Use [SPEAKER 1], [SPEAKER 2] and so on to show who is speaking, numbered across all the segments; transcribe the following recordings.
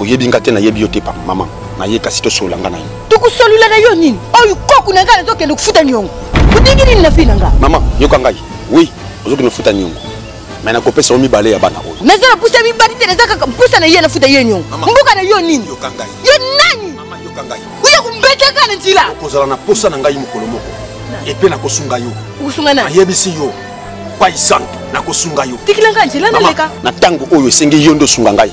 [SPEAKER 1] oyebi nga te nayebi yo te pa mama naye kasi tosolola nga na yo tokosolola na yo nini
[SPEAKER 2] oyo koku na ngai nazokende kofuta niongo odingi nini na fii na nga mama yoka ngai
[SPEAKER 1] wi ozokende kofuta niongo me nakopesa yo mibale ya bana oyo naza na mpusa mibali te
[SPEAKER 2] naza kaka mpusa na ye nafuta ye niongo mboka na yo nini yoka ngai yo
[SPEAKER 1] nani mama
[SPEAKER 2] yoka ngai
[SPEAKER 1] oya kombetaka
[SPEAKER 2] na nzila okozala na mposa na ngai
[SPEAKER 1] mokolo moko epe nakosunga yo okosunga nani ayebisi
[SPEAKER 2] yo
[SPEAKER 1] pai santu nakosunga yo tikila ngai nzela naleka
[SPEAKER 2] na ntango oyo esengi
[SPEAKER 1] yo nde osunga ngai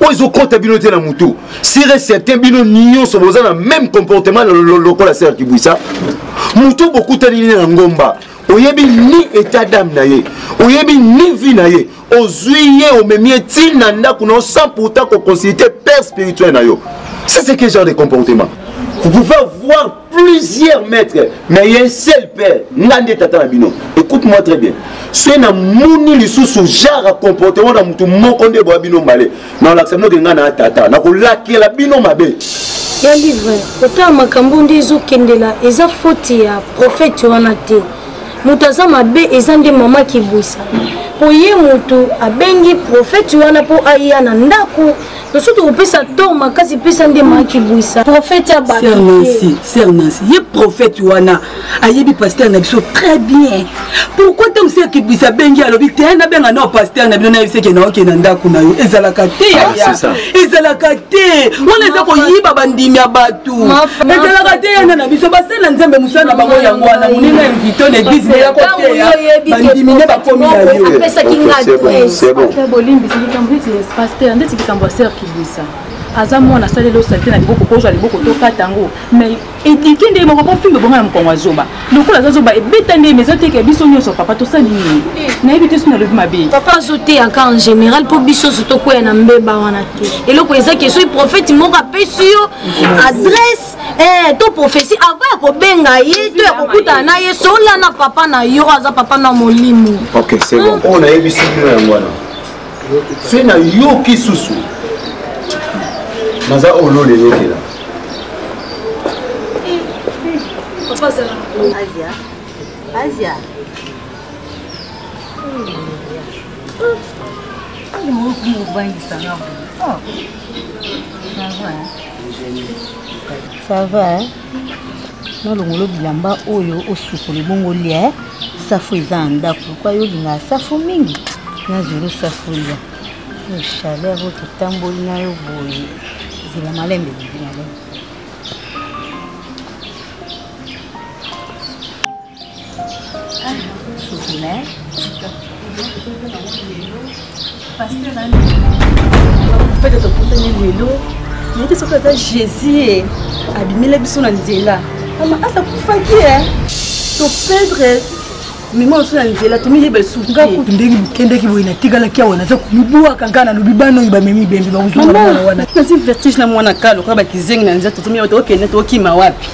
[SPEAKER 3] oyo ezokɔta bino te na motu sur et certain bino nyonso boza na même comportement lokola ser kibuisa motu bokutani ne na ngomba oyebi ni état dame na ye oyebi ni vie na ye ozwi ye omemi ye ti na ndako na yo sans pourtant koconsulte père spirituel na yo c'est ce que genre de comportement vous pouvez voir plusieurs maîtres mais ye seul père nga nde tata na bino écoute moi très bien soki namoni lisusu genre ya comportement na motu moko nde boya bino mbale naolakisa bino ke ngai na tata nakolakela bino mabe ya livre
[SPEAKER 4] kotala makambo nde ezokendela eza foti ya profete wana te moto aza mabe eza nde mama kibwisa mpo ye moto abengi profete wana mpo aya na ndako biso tokopesa tor makasi pesa nde makibwisa profete ya batonansi
[SPEAKER 5] ye profete wana ayebi paster na biso très bien pourkui ntango se akibwisa abengi alobi te nabenga nao paster na bino nayebiseke naoke na ndako na yo ezalaka te ah, ezalaka te wana eza koyiba bandimi ya bato ezalaka te yana na biso basala nzambe mosala na bango yango wana moninga invito na eglise ne yakoteya bandimi nde bakomi na yo
[SPEAKER 6] Pasteur, ndeti likambo ya sœur Kibuisa. Aza mwana asali lo salite na liboko kozwa liboko to kata yango. Mais edike nde moko po fimbe bonga na mokongo azoba. Lokola aza zoba ebeta nde mais ezoteka biso nyonso papa tosali nini? Nayebi te sina lobi mabe. Papa azoteyaka en
[SPEAKER 4] général po biso so tokwea na mbeba wana te. Eloko eza ke soki prophète moko apesi yo adresse eh, to prophesie avant ya kobenga ye to ya kokutana na ye solana papa na yo aza papa na molimo. Okay, c'est bon. Oyo
[SPEAKER 3] nayebi sibino yango wana. se na yoki susu naza olole yokela
[SPEAKER 2] Asia. Asia. Ça va, hein? nalongolo bilamba oyo osukoli bongo lia eh? safu eza na ndako kwa yo olingaka safu mingi nazweli safu lia oyo chaleur oyo totamboli na yo boye zela malembe bibi malembe
[SPEAKER 6] fete tokutani lelo nayete soki aza jésus e abimela biso na nzela ama asa kufaki e topedre mema mosusu na nzela tomiyeba lisusu nga kutu ndenge bokendaki boye natikalaki awa naza komibwaka ngai nalobi bana oyo bamemi bembe bakozonga wana nazi vertige na mwana kalo kaka bakizengi na nzela totomiya tokokende tokokima wapi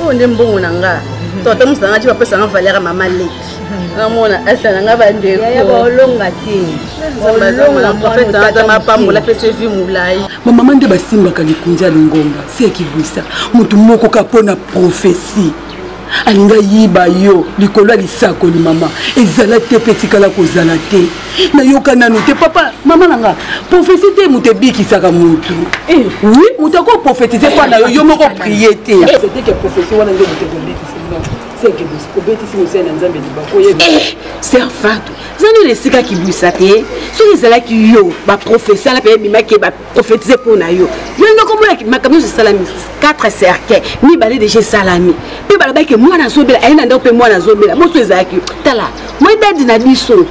[SPEAKER 6] oyo nde mbongo na nga to ata mosu na nga ti bapesa nga valeur ya mama leki namona asa na nga bandekoolonga te olongaprofeteazama apambola apesa evi molai bamama nde basimbaka
[SPEAKER 5] likunzi ya lingomba se ekibwisa motu moko kaka mpo na profesi alingi ayiba yo likolo ya lisakoli mama ezala te mpe etikala kozala te nayoka nanu te papa mama na nga profesi te moto ebikisaka motu eh. wi moto ako profetize mpa na yo yo moko prie te
[SPEAKER 7] eh, serfatu zani na esika kibwisa te soki ezalaki yo baprofesala mpe ebimaki profetize mpo na yo yo ndenge okomona makambo nyonso esalami 4 cercueil mibale deja esalami mpe balobaki ke mwana azobela aye na ndako mpe mwana azobela mosu ezalaki tala moi dadi na biso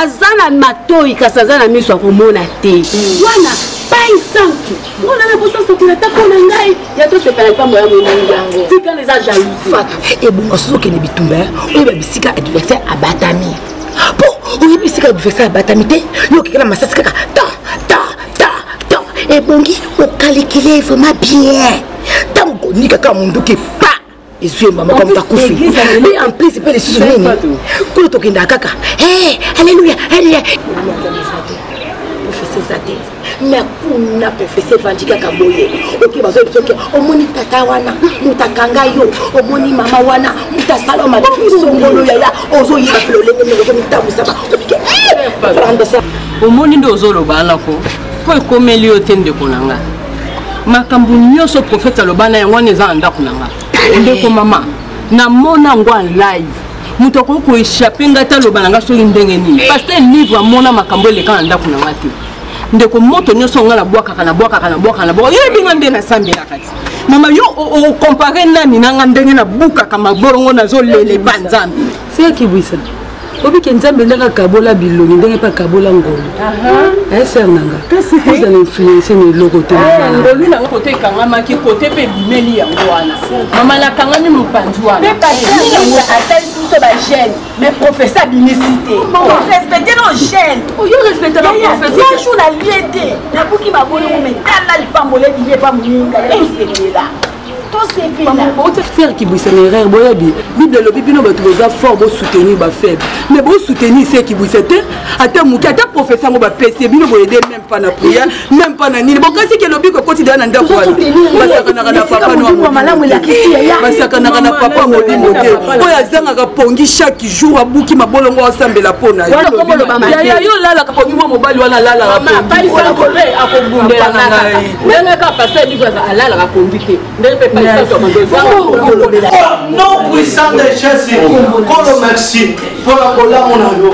[SPEAKER 7] aza na matoi kasi aza na miso ya komona te hmm. wana pai santu mwana na boso asokela ata mpo na ngai ya tosepela mpambo ya monani yango tikana eza jalousi ebonga soki okende bitumba oyo babisika adversaire abatami po oyebi esika adversaire abatami te yo okekela masasi kaka ta ta ta ta ebongi okalikile vraiment bien ntango konika kaka monduki pa ezwi ye mama kama takufi mpe en plus mpe lisusu nini kuna tokendaka kaka aleluya aleluya eza te na kuna profese evandi kaka boye oke bazoyebi soki omoni tata wana moto akanga yo omoni mama wana moto asala yo mabe misongolo yaya ozoyeba mpe lolenge ndenge ozomitambwisaka okekandesa
[SPEAKER 6] omoni nde ozoloba wana ko mpo ekomeli yo te ndeko na nga makambo nyonso profete aloba na yango wana eza na ndako na nga ndeko mama namona yango en live moto akoki koechappe ngai taloba na ngai soki ndenge nini paster livre amona makambo eleka na ndako na ngai te ndeko moto nyonso ngai nabwakaka nabwakaka nabwakaka nabwaka yo ebinga nde nasambelaka ti mama yo okompare nani na ngai ndenge nabukaka mabolongo nazolele mpa nzambe sekibwisa
[SPEAKER 5] obike nzambe ndenge akabola bilongi ndenge mpe akabola ngolu eser na nga oza na influence na eloko te ngolu nanga kote
[SPEAKER 6] ekangamaki kote mpe ebimeli yango wana mama nakangami mopanzi wana mais professeur abimisi te respecte no gene oyo respecte na professeur jour na lie te nabuki mabolo mume tala lipambole biye pa muninga esepela bouti
[SPEAKER 5] frère kibwisa na erreur boyebi bible elobi bino bato boza fort bosoutenir bafaible mais bosoutenir se kibwisa te ata moke ata professeur yango bapesi bino boyede meme pas na prière même pas na nini bokasi ke lobiko ekoti deya na ndako wana basakanaka na papa basakanaka na papa molimo te oyo azangaka pongi chaque jour abuki mabolongo asambela mpo na yaya yo olalaka pongi mwa mobali wana alalaka
[SPEAKER 6] pongiolobela
[SPEAKER 8] oh, nom puissant de jésus kolo merci mpo na bolamu na yo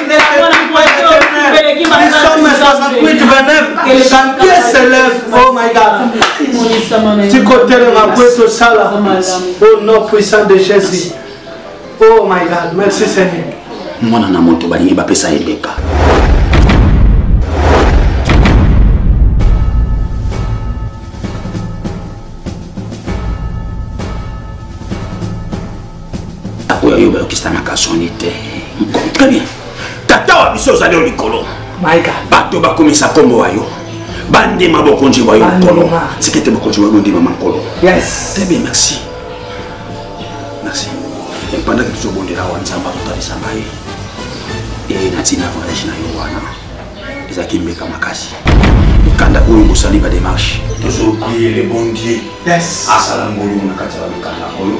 [SPEAKER 8] tikotelema mpo etosala au nom puissant de jésus oh my god merci seigneur mwana na moto
[SPEAKER 1] balingi bapesa ye beka oyo yo bayokisanaka soni te très bien tata wa biso ozali yo likolo bato
[SPEAKER 8] bakomisa nkombo
[SPEAKER 1] wa yo bandima bokonzi bwa yo nkolo sika ete bokonzi bwa yo bondimama nkolo très bien
[SPEAKER 8] merci
[SPEAKER 1] merci epandaki tozobondela wa nzambe akotalisa ngai e na ntina voyage na yo wana ezalaki mbeka makasi mikanda oyo bosali bademarshe tozobie le bon dieu asala
[SPEAKER 8] ngolu na
[SPEAKER 1] kati ya bamikanda oyo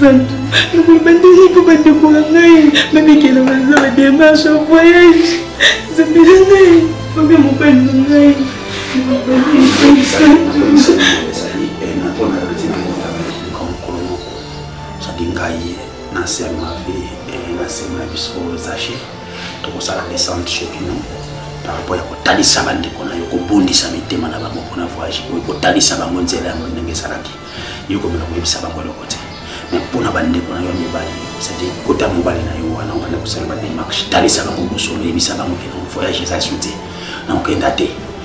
[SPEAKER 1] Santu, nakoloba ndenge mpo bandeko na ngai bamekela baza ba démarche ya voyage nzambe na ngai obe mobali na ngai ngai na se ya mabe na se na biso zache tokosala descente chez bino par rapport ya kotalisa bandeko na yo kobondisa mitema na bango mpona voyage oyo kotalisa bango nzela yango ndenge ezalaki yo komela koyebisa bango eloko te me mpona bandeko na yo ya mibali cetadire kota mobali na yo wana obanda kosala bademarche talisa bango bosolo yebisa bango ke voyage eza su te na okenda te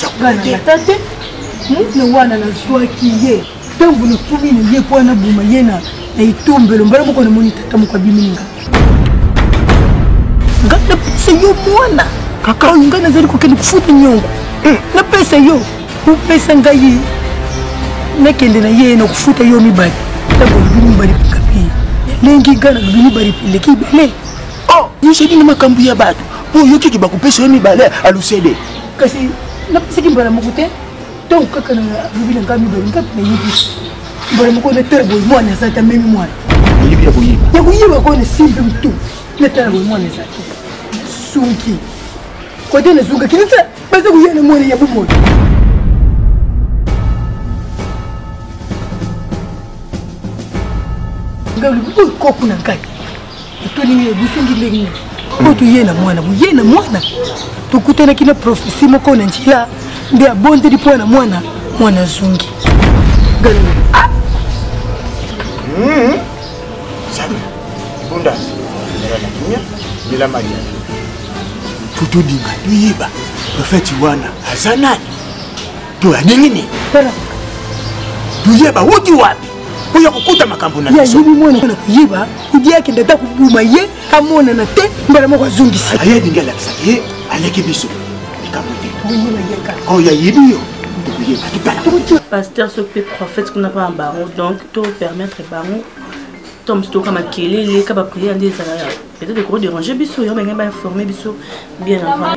[SPEAKER 4] jakuta te na wana nazwaki ye ntango nakimi na ye mpo wana boma ye na etombelo mbala moko namoni tata moko abimini nga nga napesa yo mwana kaka oyo ngai nazali kokende kofuta nyongo eh. napesa yo opesa ngai nakende na ye na kofuta yo mibale ntango olobi mibale pekapi elengi ngai nalobi mibale peleki ibele oh, yo ozali
[SPEAKER 3] na makambo ya bato mpo oyokiki bakopesa yo mibale alusele kasi
[SPEAKER 4] napesaki mbala moko te ntango kaka na lobi na ngai mibale ngai nayebi mbala moko na tala boye mwana aza te amemi mwana oyebi ya koyeba
[SPEAKER 3] ya koyeba koyo nasimbi
[SPEAKER 4] motu na tala boye mwana eza te nasungi kote nazungaki nata baza koya na mwana ya bomoi ngai olobi oyo koku na ngai tolingi yo bosungi ndenge nini oyo toye na mwana boye na mwana tokutanaki na profesi moko na njila nde abondeli mpo na mwana mwana azongi ah! hmm.
[SPEAKER 3] bunda mbela maria totodinga toyeba profeti wana aza nani toyadingi nini toyeba wuti wapi oya kokota makambo na biso ayebi mwana na koyeba
[SPEAKER 4] udi akende ata kobuma ye amonana te mbala moko azongisi aye alingi alakisaka ye
[SPEAKER 3] aleki biso likambo te
[SPEAKER 4] oyo ayebi yo
[SPEAKER 6] pasteur soki mpe prophète kuna mpa na bango donc to permettre bango to mosu toyoka makelele ka bapriere nde ezala peut-être ekoderange biso yo ndenge bainforme biso bien avant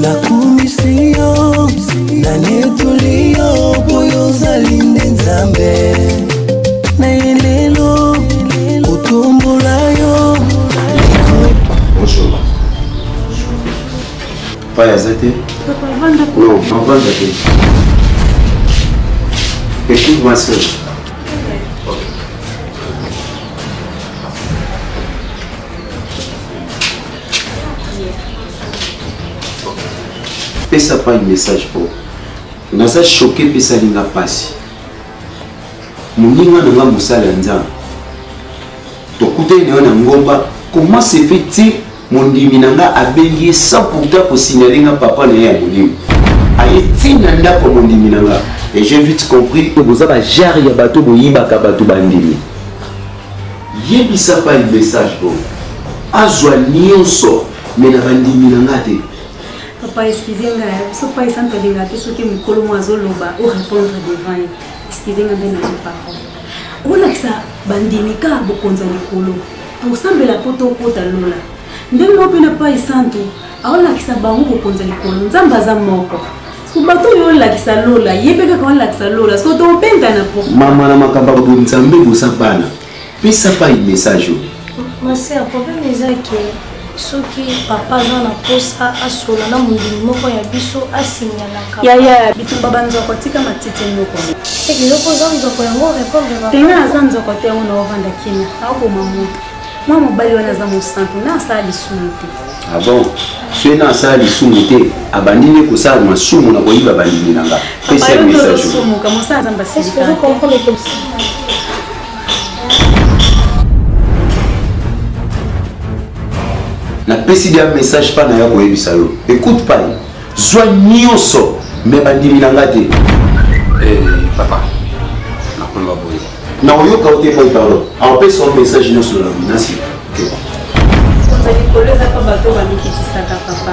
[SPEAKER 9] nakumisi yo nanetoli yo boyo ozali nde nzambe
[SPEAKER 3] na ye lelo kotombola yo pai aza te non avanda te écoute ma sœur pesa pai message po naza choke mpe esali nga mpasi moninga na nga mosala ya nzambe tokutani na yo na ngomba comment se fait-il mondimi na nga abengi ye sans pourtant kosignale nga papa na ye ya molimo aye ntina ndako ya mondimi na nga et j'ai vite compris boza bajare ya bato boyibaka bato bandimi yebisa pa message bongo azwa nyonso me na bandimi na nga te papa eskize
[SPEAKER 6] nga biso pa esantu alinga te soki mokolo mwa azoloba o répondre devant ye eskize nga nde nazo papa olakisa bandimi kaka bokonzi ya likolo tosambela mpo tokota lola ndenge moko mpe na pai santu aolakisa bango kokonza likolo nzambe aza moko bato oyo olakisa lola ye mpe kaka olakisa lola soko tobengana po mama na makambo ya boye
[SPEAKER 3] nzambe boza bana pesa pai message oyo ma sœur
[SPEAKER 4] problème eza ke soki papa aza na mposa asola na mondimi moko ya biso asinyalaka yaya bitumba
[SPEAKER 6] banzoko tika matiti noko eloko oza
[SPEAKER 4] nzoko yango repondrepena aza nzoko te yango
[SPEAKER 6] naovanda kina aoboma moto mwa mobali wana aza mosantu na asala lisumu te abon ah
[SPEAKER 3] soki na asala lisumu te abandi nde kosala masumu na koyiba bandimi na nga pesa message napesi dia message mpa na ya koyebisa yo écoute pai zwa nyonso me bandimi na nga te eh,
[SPEAKER 1] papa nakoloba boye na oyoka yo te
[SPEAKER 3] pai pardon apesa yo message nyonso na minasi likolo
[SPEAKER 6] eza mpa bato bamikitisaka papa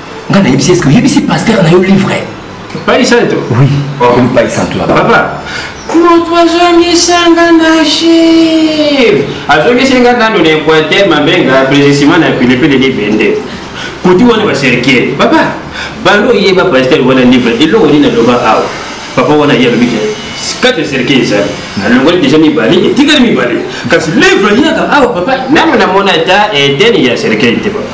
[SPEAKER 1] nga nayebisi eske oyebisi paster na yo livre pai santo
[SPEAKER 10] oui okomi
[SPEAKER 1] pai santo ya papa
[SPEAKER 10] moto azongisanga na chive azongisanga nano na equateur mabenga precisement na pilipili libende kuti wana baserkier papa bando oyeba paster wana livre eloko nini aloba awa papa wana ye alobi kati eserke ezali alongoli deja mibale etikali mibale kasi levre yaka awa papa nano namona ata eteni ya serkei te papa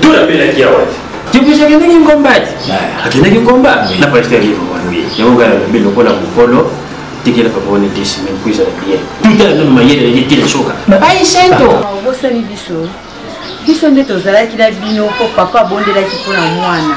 [SPEAKER 10] Dona pela kia wati. Kibisha kendeki ngombati. Akendeki ngomba na pasteur live wana. Yango ngala mbe lokola mukolo tikela papa wana disi me kuiza na bien tuta na noma yele yele tele soka na ai sento
[SPEAKER 2] obosani biso biso nde tozalaki na bino mpo papa abondelaki mpo na mwana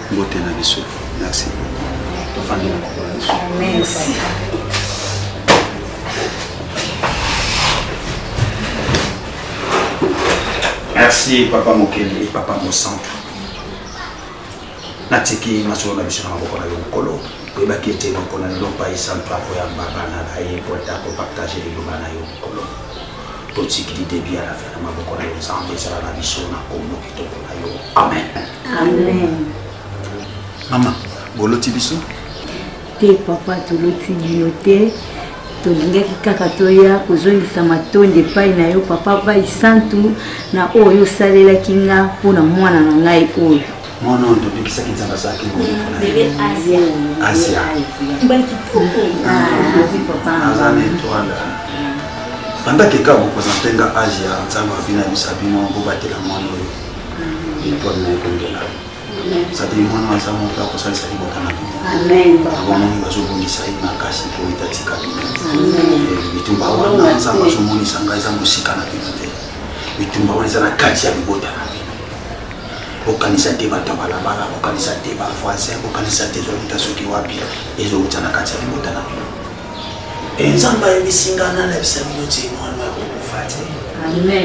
[SPEAKER 2] mbote
[SPEAKER 1] na biso merci tofandi na mokolo na biso
[SPEAKER 2] merci
[SPEAKER 1] merci papa mokeli papa mosantu natiki masolo na biso na maboko na yo mokolo oyebaki ete mokolo na lelo pai santu akoyamba bana na ye po ete akopartage liloba na yo mokolo totikili debi ya lafe na maboko na yo nzambe ezala na biso na kombo
[SPEAKER 2] kitoko
[SPEAKER 1] na yo amen amen mama boloti biso te
[SPEAKER 2] papa toloti bino te tolingaki kaka toya kozongisa matondi epai na yo papa bai santu na oyo osalelaki nga mpo na mwana na ngai oyo mwana oyo tobikisaki
[SPEAKER 1] nzambe azalaki asia aza na etwala banda keka kopresente nga age ya nzambe abi na biso abino bobatela mwana oyo etwale na ekongela sadeli mwana aza moto akosalisa libota na bino abomoni
[SPEAKER 2] bazobongisa
[SPEAKER 1] ye makasi mpo etatika bino bitumba wana nzambe azomonisa ngai eza mosika na bino te bitumba wana eza na kati ya libota na bokanisa te bato ya balabala bokanisa te bavoisin bokanisa te ezouta soki wapi ezouta na kati ya libota na bino e nzambe ayebisi nga nalabisa bino ti mwana ya kokufa te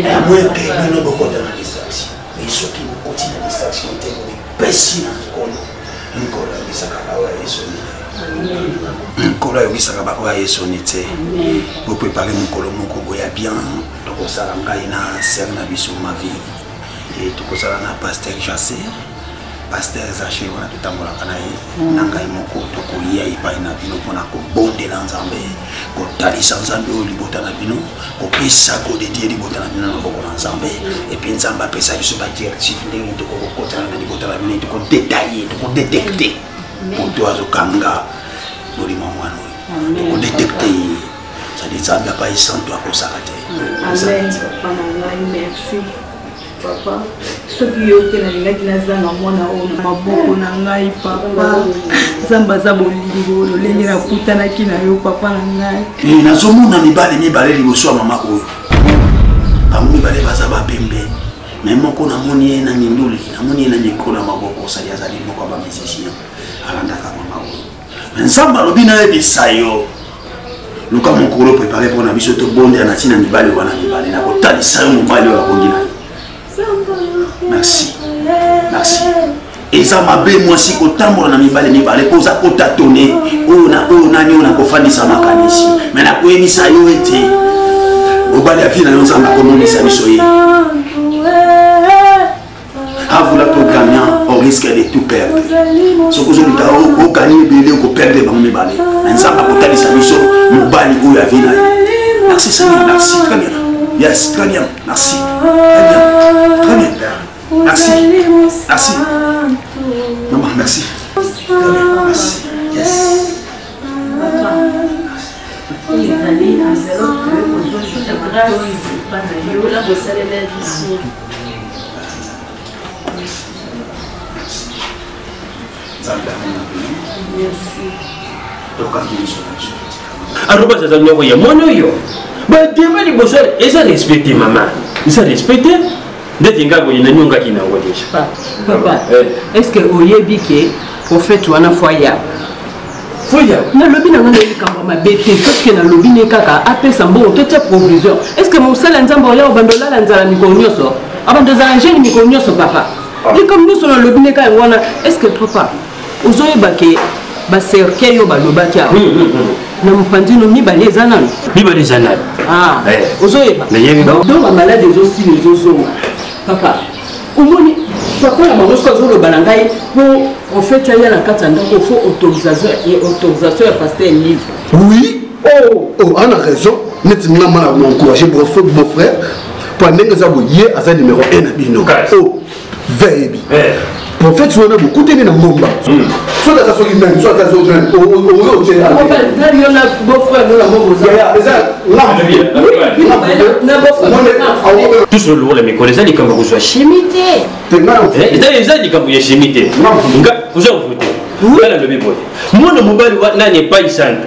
[SPEAKER 1] yango ete bino bokota na distraction mai soki bokoti na distraction te bopesi na nkolo nkolo ayebisaka baoyo ya yesu nkolo ayokisaka baoyo ya yesu ni te boprepare mokolo moko boya bien tokosala ngai na sere na biso mavi e tokozala na pasteur jase pasteur zache wana totambolaka na ye mm. na ngai moko tokoya epai na bino mpona kobondela nzambe kotalisa nzambe oyo libota na bino kopesa kodedie libota na bino na maboko na nzambe epui nzambe apesa biso badirective ndenge tokokokotana na libota na bino tokodetaye tokodetekte moto azokanga molimo ya mwana oyo tokodetekte ye sadi nzambe apai santu akosaka te amen mama ngai merci papa
[SPEAKER 2] soki yo te nalingaki nazanga mwana oyo na maboko na ngai papa nzambe aza bolingo lolenge nakutanaki na yo papa na ngai eh, nazomona mibale
[SPEAKER 1] mibale liboso ya mama oyo bango mibale baza bapembe me moko namoni ye na minduli namoni ye na mikolo ya maboko osali azali moko ya bamusicien alandaka mama oyo nzambe alobi nayebisa yo luka mokolo prepare mpo na biso tobondela na ntina mibali wana mibale na kotalisa yo mobali oyo abongi na yo merci merci eza mabe mwasi kotambola na mibale mibale mpo oza kotatone oyo na oyo nani oyo nakofandisa makanisi me nakoyebisa yo ete mobali ya vi na yo nzambe akomonisa biso ye avula to gagnant on risque de tout perdre soki ozoluka ogani ebele okoperdre bango mibale na nzambe akotalisa biso mobali oyo avi na ye merci seigneur merci très bien yes très bien merci très bien très bien merci merci maman merci très bien merci yes
[SPEAKER 10] arobas aza nyoko ya mwana oyo badema liboso eza respecte mama eza respecte ndeti nga boye nanyongaki na yango deja papa eh.
[SPEAKER 7] est ce que oyebi ke prophète wana fo aya foya nalobi na ngai na likambo ya mabe te soki nalobi ne kaka apesa mbongo totya provision est ce que mosala nzambe oya obanda olala nzala mikolo nyonso abanda ozala jeune mikolo nyonso papa ah. likambo nyonso nalobi ne kaka yango wana est ce que papa ozoyeba ke bacercueil oyo balobaki awa hmm, hmm, hmm. na mopandino mibale eza nano mibale eza nano ah, eh. ozoyeba do bamaladi ezosila ezozonga papa omoni papa na bango soki azoloba na ngai mpo profete aya na kati ya ndako fo autorisation ya paster livre oui
[SPEAKER 8] oh, oh, ana raison neti nga mana na encourage beau frère mpo ndenge eza boye aza numero 1 na bino veyebi prophète wana bokutani na ngomba hmm. soki aza soki meme soki aza soki meme
[SPEAKER 10] oyo otie eza tous lolokola mikolo eza likambo kozwa chimi te eh, eza likambo ya chimi te oza kovu te nga nalobi boye mwana mobali nani epai sante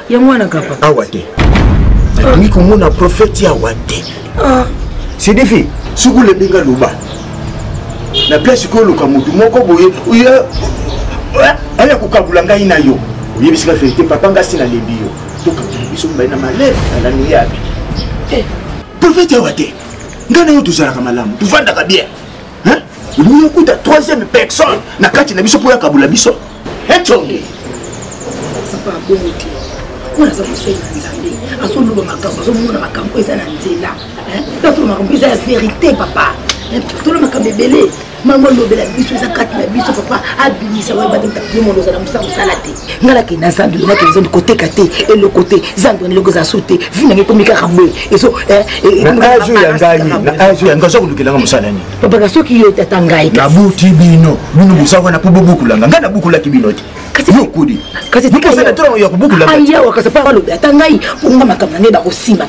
[SPEAKER 3] yango wana kapa awa
[SPEAKER 7] te nalingi
[SPEAKER 3] komona profete awa te ah. sidifi soki olebi nga loba na place koyo oluka motu moko boye oya aya kokabula ngai na yo oyebisi nga verité papa nga si nalembi yo tokabula biso mibali na malere alani yabi eh. profete awa te ngai na yo tozalaka malamu tovandaka bien hein olingi okuta troisième personne na kati na biso mpo ya kabola biso econge
[SPEAKER 11] papa abongo te oyo aza mosali na nzambe azoloba makambo azomona makambo eza na nzela azoloba makambo eza ya verité papa tolo makambo ebele mango alobela biso eza kati na biso papa abimisa oyo ebandimta bimono ozala mosala mosala te nga lake na zando lake na zando koteka te eloko te zando na eloko eza so te vi nange ekomi kaka boye ezo eh, eh, na age
[SPEAKER 3] ya ngai na age ya ngai oza kolukelanga mosala nini babaka soki yo tata
[SPEAKER 11] ngai nabuti bino
[SPEAKER 3] bino bosala wana mpo bobukulanga ngai nabukulaki bino te yokudi kasi ya kobukulanga
[SPEAKER 11] ayawa kasi mpo balobi ata ngai mpo nga makambo na ngai bakosimba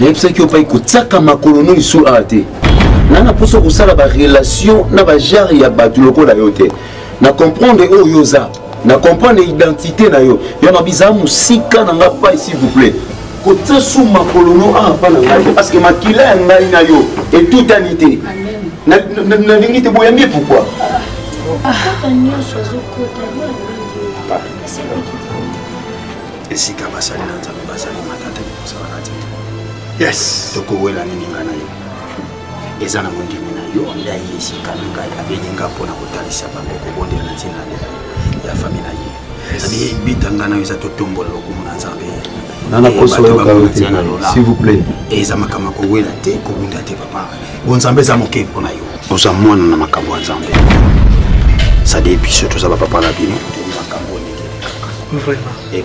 [SPEAKER 3] nayebisaki yo pai kotiaka makolo no lisusu awa te na na mposa kosala barelation na bajare ya bato lokola yo te na comprendre oyo oza na comprendre identité na yo yo na biza musika na nga pai s'il vous plaît kotia su makolo no awa pa na ngai parce que makila ya ngai na yo etutani te nalingi te boyambi ye pourkui
[SPEAKER 1] esika basali na nzambe bazali matata kosalaka te yes
[SPEAKER 3] tokowela nini
[SPEAKER 1] ngai na yo eza na mondimi na yo nde aye esika na ngai abengi nga mpo na kotalisa bango kobondela na ntina ya fami na ye ezali bita ngai nayo eza totombola lokumu na nzambe
[SPEAKER 3] eza makambo ya kowela
[SPEAKER 1] te kobunda te papa bonzambe eza moke mpo na yo oza mwana na makambo ya nzambe sadi biso toza bapapa na bino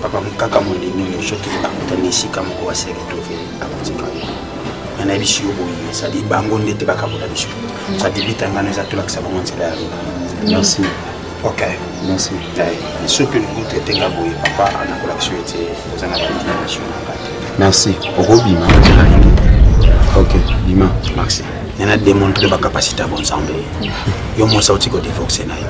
[SPEAKER 1] papa mokaka mondimi oyo soki akutani esika moko aseretove akotika yo nga nayebisi yo boye ezali bango nde te bakabola biso ezali bitangana eza tolakisa bango nzela ya lola merci
[SPEAKER 3] ok
[SPEAKER 1] merci
[SPEAKER 3] soki
[SPEAKER 1] olingi traite nga boye papa anakolakisa yo ete oza na bainformation na nga te merci
[SPEAKER 3] okobima ok bima merci nana
[SPEAKER 1] démontre bacapacité ya bonzambe yo mwasi auti kodivorce na yo